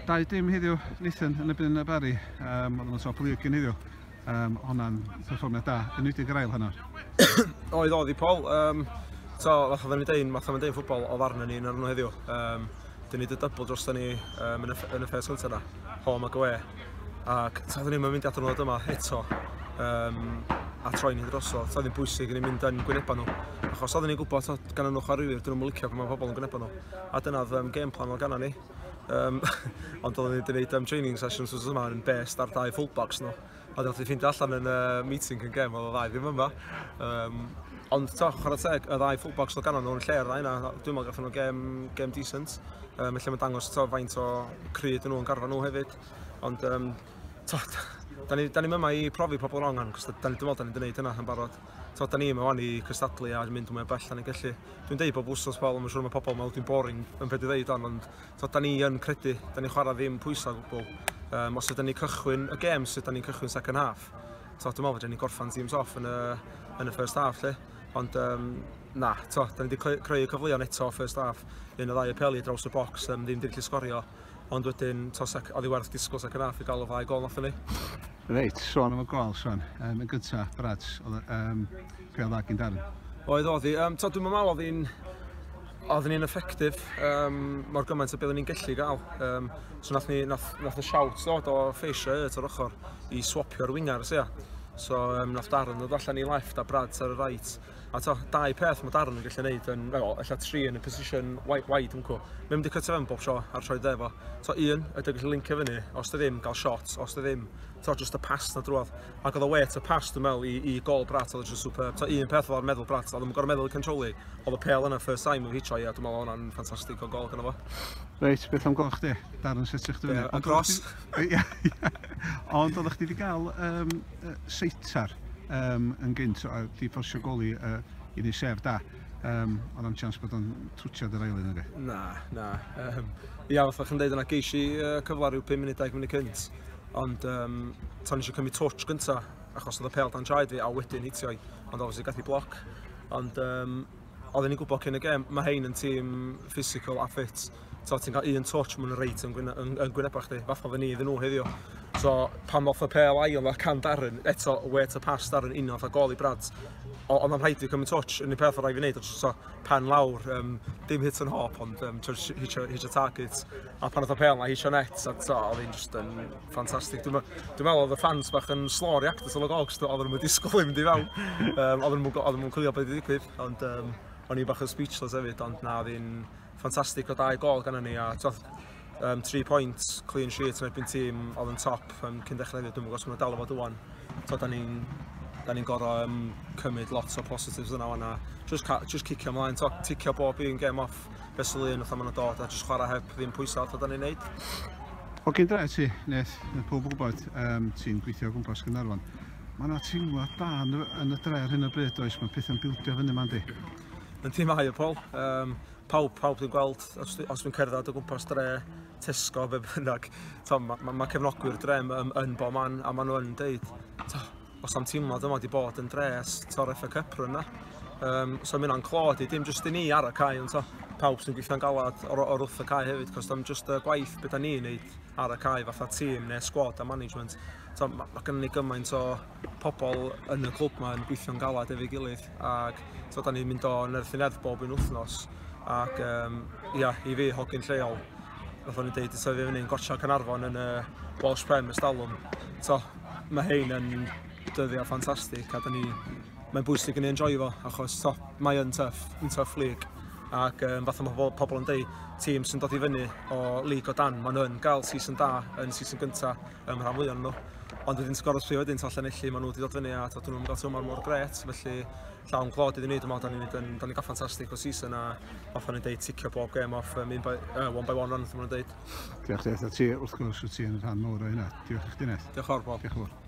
Dau dim heddiw, Nathan yn y byn y bari. Um, oedd yn y top lig yn heddiw. Um, Honna'n perfformiad da, yn wedi yr ail hynna. oedd oedd i Paul. Um, so, fath oedden ni dein, fath oedden ni'n ffwbol o ddarna ni yn arno heddiw. Um, dyn ni dy dybl dros ni um, yn, y, yn y ffes gyntaf yna, home ac away. Ac ta dyn ni'n mynd at nhw yma eto. Um, a troi ni drosodd. Sa ddim bwysig yn ei mynd yn gwynebau nhw. Achos oedden ni'n gwybod gan nhw chwaraewyr, dyn nhw'n licio pan mae pobl yn gwynebau nhw. A dyna oedd um, game plan o ganna ni. Um, ond oedden ni wedi gwneud um, training sessions os yma yn best ar dau fullbacks nhw. No. A dyna ti ffeindio allan yn uh, meeting yn gem, oedd o ddau ddim yma. Um, ond to, chwarae teg, y ddau fullbacks o ganna nhw'n lle ar yna, dwi'n meddwl gathen nhw gem, gem decent. Um, felly mae'n dangos to, faint o cryd nhw'n garfa nhw hefyd. Ond um, to, da ni, da ni yma i profi pobl rong, cos da ni, dwi'n meddwl da ni'n gwneud hynna yn barod. To, da ni yma wan i cystadlu a mynd mwy o bell da ni'n gallu. Dwi'n deud bob wsnos fel, mae'n siŵr mae pobl yn meddwl dwi'n boring yn beth i ddeud on, ond to, da ni yn credu, da ni'n chwarae ddim pwysau gwbl. Um, os ydyn ni cychwyn y gêm, sut da ni'n cychwyn second half? To, dwi'n meddwl fod ni'n gorffan teams off yn y, yn y first half, lle. Ond, um, na, to, da ni wedi creu y cyfleon eto first half, un o ddau y peli draws y box, um, ddim wedi gallu sgorio. Ond wedyn, tos ac oddi werth disgwyl second half i gael y ddau gol allan ni. Reit, sôn am y gol, Sean. Um, yn gyntaf, Brad, oedd um, be oedd agyn Darren? Oedd, oedd hi. Um, dwi'n meddwl oedd hi'n oedd hi'n effectif um, mor gymaint o beth o'n i'n gallu gael. Um, so nath, ni, nath, nath y siawt ddod o ffeisio y ar ochr i swapio'r wingers, ia. So um, nath Darren ddod allan i left a Brad ar y right. A to, dau peth mae Darren yn gallu gwneud yn, well, ella tri yn y position wide, wide yn cw. Mae'n mynd i cytio fewn bob sio a'r sioed efo. To, un, ydy gallu lincio fyny, os dy ddim, gael shot, os dy ddim, to, just y pass na drwodd. Ac oedd o wet y pass, dwi'n meddwl, i, i gol Brat, oedd o just superb. To, un peth o'r meddwl Brat, oedd yn gorau meddwl i controli, oedd y pel yna first time yn hitio i, a dwi'n meddwl oedd hwnna'n ffantastig o gol gyda fo. Reit, beth am goch di? Darren, sut ych chdi fyny? Ond gros. Ond oeddech chdi wedi cael um, uh, seitar um, yn gynt a di ffosio goli uh, i ni sef da. Um, oedd am chance bod o'n twtiad yr ailyn ag Na, na. Um, ia, fatha chi'n dweud yna, geis i uh, cyfle rhyw 5 munud, 10 munud cynt. Ond um, tan eisiau cymryd touch gynta, achos oedd y pel dan traed fi, a wedyn hitio i. Ond obviously gath i bloc. Ond um, oedden ni'n gwybod cyn y gem, mae hein yn tîm physical a fit. So, ti'n cael un touch, mae'n reit yn, gwyne, yn, yn gwynebau chdi. Fath o fy ni iddyn nhw heddiw. So, pan ddoth y pel ail, a can Darren, eto, we to pass Darren, un o'n gol i Brad. Ond o'n rhaid i cymryd touch, yn y peth o rai fi wneud, so, pan lawr, um, dim hit yn hop, ond um, hitio, hitio target. A pan oedd y pel na, hitio net, a to, oedd hi'n just yn Fantastic. Dwi'n meddwl oedd y fans bach yn slow react at y logogs, oedd nhw'n disgwyl i mynd i fewn. Um, oedd nhw'n chwilio beth i ddigwydd, ond um, o'n i bach yn speechless hefyd, ond na, oedd hi'n ffantastig o dau gol gan ni, a twth, um, tri pwynt, clean sheet yn erbyn tîm oedd yn top um, cyn dechrau hefyd, dwi'n gwybod os mae'n dal o fod ywan. So, da ni'n da ni'n gorau um, cymryd lot o positives yna o'na. Just, just cicio ymlaen, ticio bob un game off. fesul un fatha maen nhw'n dod a jyst chwarae heb ddim pwysau fatha da ni'n neud. O gyn dra ti, Neth, mae pob yn gwybod um, ti'n gweithio o gwmpas Gynarfon. Mae yna teimlad da yn, yn y dre ar hyn o bryd oes, mae pethau'n bildio fyny ma'n di. Yn ti mae o, Paul. Um, pawb, pawb dwi'n gweld, os, os dwi'n cerdded o gwmpas dre, Tesco, be bynnag, mae ma, ma cefnogwyr dre yn, yn bo man, a maen nhw'n deud, Os am teimlo dyma wedi bod yn dres tor FA Cup run na. Um, so mae hwnna'n clod i, dim jyst i ni ar y cae, ond so, pawb sy'n gweithio'n galad o'r, or wrth y cae hefyd, cos dim jyst y gwaith beth da ni'n neud ar y cae fatha tîm neu sgwad a management. So, mae ma gennym ni gymaint o pobl yn y clwb yma yn gweithio'n galad efo'i gilydd ac so, da ni'n mynd o nerthin erth bob un wythnos ac um, ia, i fi hogyn lleol, fatha ni'n deud, so, fi fyny'n gorsiau Canarfon yn y Welsh Prem ystalwm. So, Mae hyn yn dyddiau ffantastig a ni, mae'n bwysig yn ei enjoy fo achos to, mae yn tuff, yn tuff lig ac um, fath mae pobl, pobl yn dweud, tîm sy'n dod i fyny o lig o dan, maen nhw'n gael season da yn season gyntaf ym rhan fwy o'n nhw. Ond wedyn sgoro'r tri wedyn, to llenelli, maen nhw wedi dod fyny a to, dyn nhw'n gael tymor mor gret, felly llawn glod iddyn ni. Dwi'n meddwl da ni'n mynd da ni'n gael ffantastig o season a off o'n i'n deud ticio bob gem off um, by, uh, one by one run, dwi'n meddwl deud. Diolch Deth, a ti wrth gwrs wyt ti'n rhan mawr o hynna. Diolch i chdi Neth. Diolch o'r bobl. Diolch o'r bobl.